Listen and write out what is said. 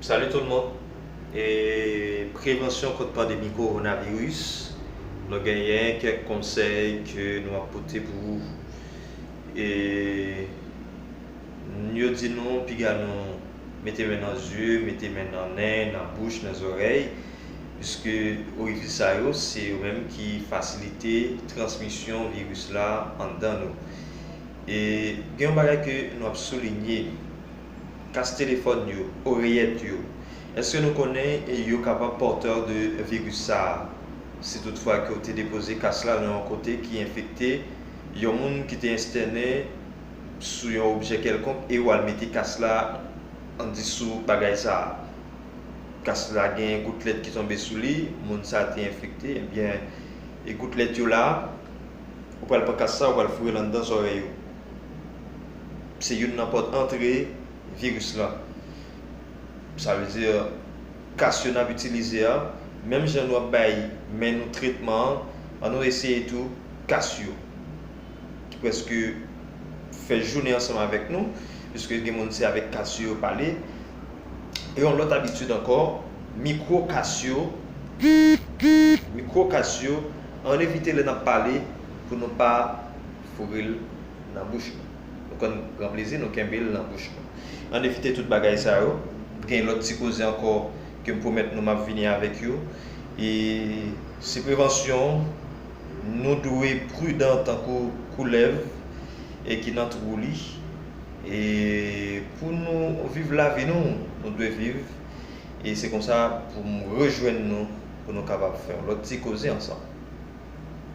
Salut tout moun e prevansyon kont pandemi koronavirus nou genyen kèk konsèy ke nou ap pote pou ou e n yo di nou piga nou mete men nan zye mete men nan nen nan bouch nan zòrèy pwiske orifis sa yo se yo menm ki fasilite transmisyon viris la anndan nou e gen yon bagay ke nou ap soulinye. kas telefòn yo, oreyèt yo. Eske nou konnen yo kapab pòtè de viris sa a? Si tout fwa ke w te depoze kas la nan yon kote ki enfekte, yon moun ki te estène sou yon objè kèlkonk e ou al mete kas la an di sou bagay sa a, kas la gen goutlèt ki tonbe sou li, moun sa a te enfekte, ebyen goutlèt yo la, ou pral pran kas sa a ou pral foure l anndan zòrèy ou. Se youn nan pòt antre viris la. Sa vle di kas yo n ap itilize a, menm jan nou ap bay men nou tretman an, an nou eseye tou kas yo ki prèske fè jounen ansanm avèk nou, piske gen moun se avèk kas yo yo pale. E yon lòt abitid ankò, mikwo kas yo, mikwo kas yo, an n evite lè n ap pale pou nou pa. foure l nan bouch nou. Nou konn pran plezi nou kenbe l nan bouch nou. An n evite tout bagay sa yo. Gen lòt ti koze ankò ke m pwomèt nou m ap vini avèk yo. E se prevansyon, nou dwe pridan tankou koulèv e ki nan twou li. E pou nou viv lavi nou, nou dwe viv. E se konsa pou m rejwenn nou pou nou kapab fè yon lòt ti koze ansanm.